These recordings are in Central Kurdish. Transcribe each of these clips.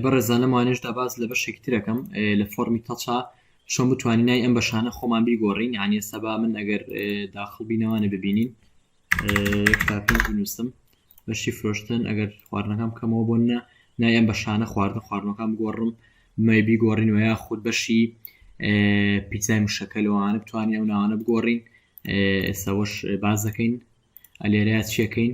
بەڕێزان لەم وانەیەشدا باس لە بەشێکی ترەکەم لە فۆرمی تەچا چۆن بتوانین نای ئەم بەشانە خۆمان بیگۆڕین یعنی ئێستا با من ئەگەر داخڵ بینەوانە ببینین نووسم بەشی فرۆشتن ئەگەر خواردنەکەم کەمەوە بۆ نە نای ئەم بەشانە خواردن خواردنەکان بگۆڕم مای بیگۆڕین و یا خود بەشی پیتزای مشەکە لەوانە بتوانین ئەو ناوانە بگۆڕین ئێستا وەش باز دەکەین ئەلێرە چیەکەین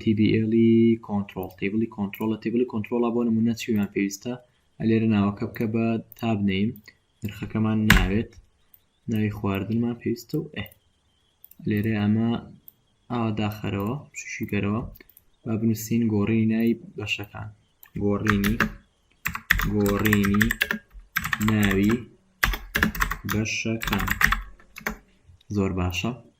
تیبیئێڵی کۆنترۆڵ تیبڵی کۆنترۆڵە تیبڵی کۆنترۆڵە بۆ نمونە چیمان پێویستە ئەلێرە ناوەکە بکە بە تابنەیم نرخەکەمان ناوێت ناوی خواردنمان پێویستە و ئە لێرە ئەمە ئاوا داخەرەوە شوشیگەرەوە با بنووسین گۆڕی نای بەشەکان گۆڕینی گۆڕینی ناوی بەشەکان زۆر باشە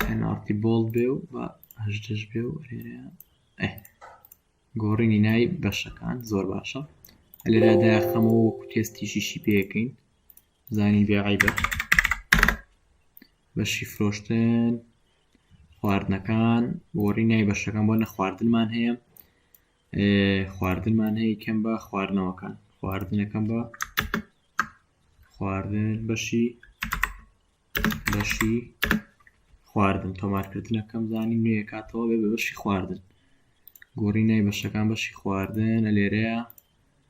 پێناڵتی بۆڵ بێ و بە هەژدەش بێ و گۆڕینی ناوی بەشەکان زۆر باشە لێرادا خەمەوە وەکو تێستیشیشی پێەکەین زانی بێعیبە بەشی فرۆشتن خواردنەکان گۆڕی نای بەشەکان بۆ نە خواردنمان هەیە خواردنمان هەیە کەم بە خواردنەوەکان خواردنەکەم بە خواردن بەشی بەشی خواردن تۆمارکردنەکەم زانی نوێ کاتەوە بێ بەشی خواردن گۆڕی نای بەشەکان بەشی خواردن لە لێرەیە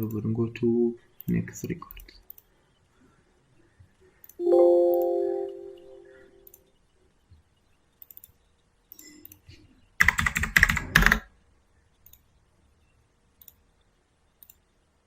ببورن گۆ تو نێکس ڕیکۆرد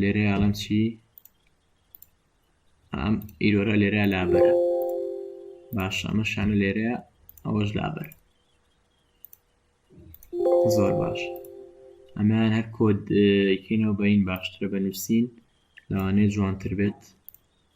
لێرە یاڵم چی ئەم ئیرۆرە لێرە لابەرە باش ئەمە شانە لێرە ئەوەش لابەر زۆر باش ئەمان هەر کۆدکەینەوە بەین باشترە بە نووسین لەوانەیە جوانتر بێت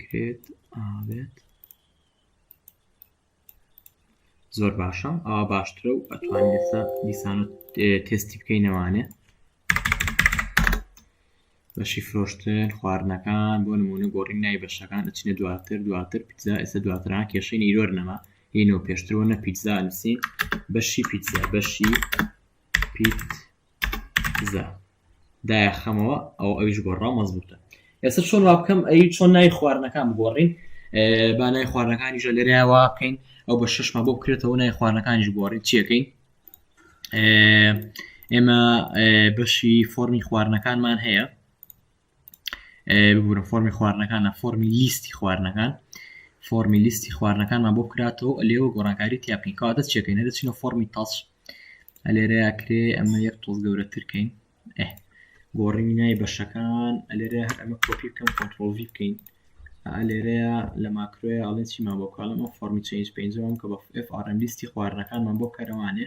کرێت ئاێت زۆر باشە ئاوا باشترە و ئەتوان ئێستا دیسان تستی بکەی نەوانێ بەشی فرۆشتن خواردنەکان بۆ نمونە گۆڕین نای بەشەکان ئەچینە دواتر دواتر پیزا ئێستا دواتران کێشەی نیرۆر نەما هینۆ پێشترەوە نە پیزا نووسین بەشی پیزا بەشی پیت زە دایە خەمەوە ئەو ئەویش گۆڕا مەزبوتە ئێستا چۆن وا بکەم ئەی چۆن نای خواردنەکان بگۆڕین با نای خواردنەکانی ژە لێرە واقعین ئەو بە شەشمە بۆ بکرێتەوە نای خواردنەکانیش گۆڕی چیەکەین ئێمە بەشی فۆرمی خواردنەکانمان هەیە ببورە فۆمی خواردنەکانە فۆمی لیستی خواردنەکان فۆمی لیستی خواردنەکانمان بۆ کراتەوە لێەوە گۆڕانکاری تیاپینکەوە دەست چێکەین دەچینە فۆمی تاچ ئەلێرەیە کرێ ئەمە یەک تۆز گەورەترکەین گۆڕینی نای بەشەکان ئەلێرە هەر ئەمە کۆپی بکەم کۆنتترۆلڤی بکەین ئەلێرەیە لە ماکرۆیە ئەڵێن چیمان بۆ کاڵم ئەو فۆمی چنج پێنجەوەم کە بە FRM لیستی خواردنەکانمان بۆ کەرەوانێ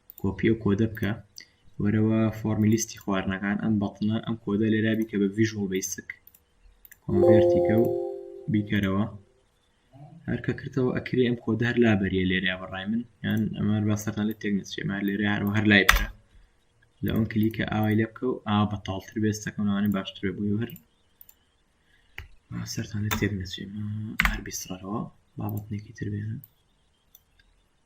کۆپی ئەو کۆدە بکە وەرەوە فۆرمی لیستی خواردنەکان ئەم بەتنە ئەم کۆدە لێرا بیکە بە ڤژوەڵ بیسک کۆنڤێرتیکە و بیکەرەوە هەرکە کردەوە ئەکرێ ئەم کۆدە هەر لابەریە لێرا بەڕای من یان ئەمان باسەکان لە تێک نچێمار لێرە هەروە هەر لای بکە لە ئەون کلیکە ئاوای لێ بکە و ئا بە تاڵتر بێستەکەمانە باشتر بێ بووی هەر سەران لە تێک نچێمە هەر بیسڕەوە بابەتنێکی تر بێنە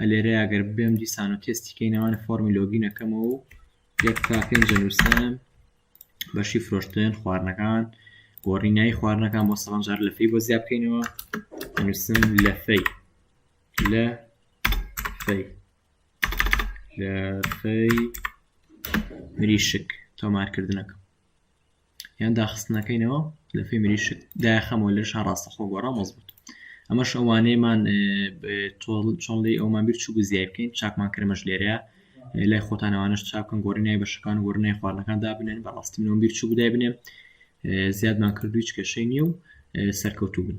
ئەلێرەیا گەر بێم دیسان و تێستی کەینەوە لە فۆرمی لۆگین ئەەکەمەوە و یەک تا پێنج نووسم بەشی فرۆشتن خواردنەکان گۆڕی نای خواردنەکان بۆ سەڵام جار لە فەی بۆ زیاد بکەینەوە نووسم لە فەی لە فەی لە فەی مریشک تۆمارکردنەکە یان داخستنەکەینەوە لە فی مریشک دایخەمەوە لە شار ڕاستەخۆ گۆڕا مەزبوط ئەمەش ئەوانەیەمان چۆن لی ئەومان بیر چوو زیای بکەین چاکمان کرمەش لێرەیە لای خۆتانەوانش چاکن گۆڕی نای بەشەکان گۆڕ نای خواردنەکان دابنێن بەڕاستی منەوە بیر چوو بدای بنێم زیادمان کردویچ کێشەی نییە و سەرکەوتوو بن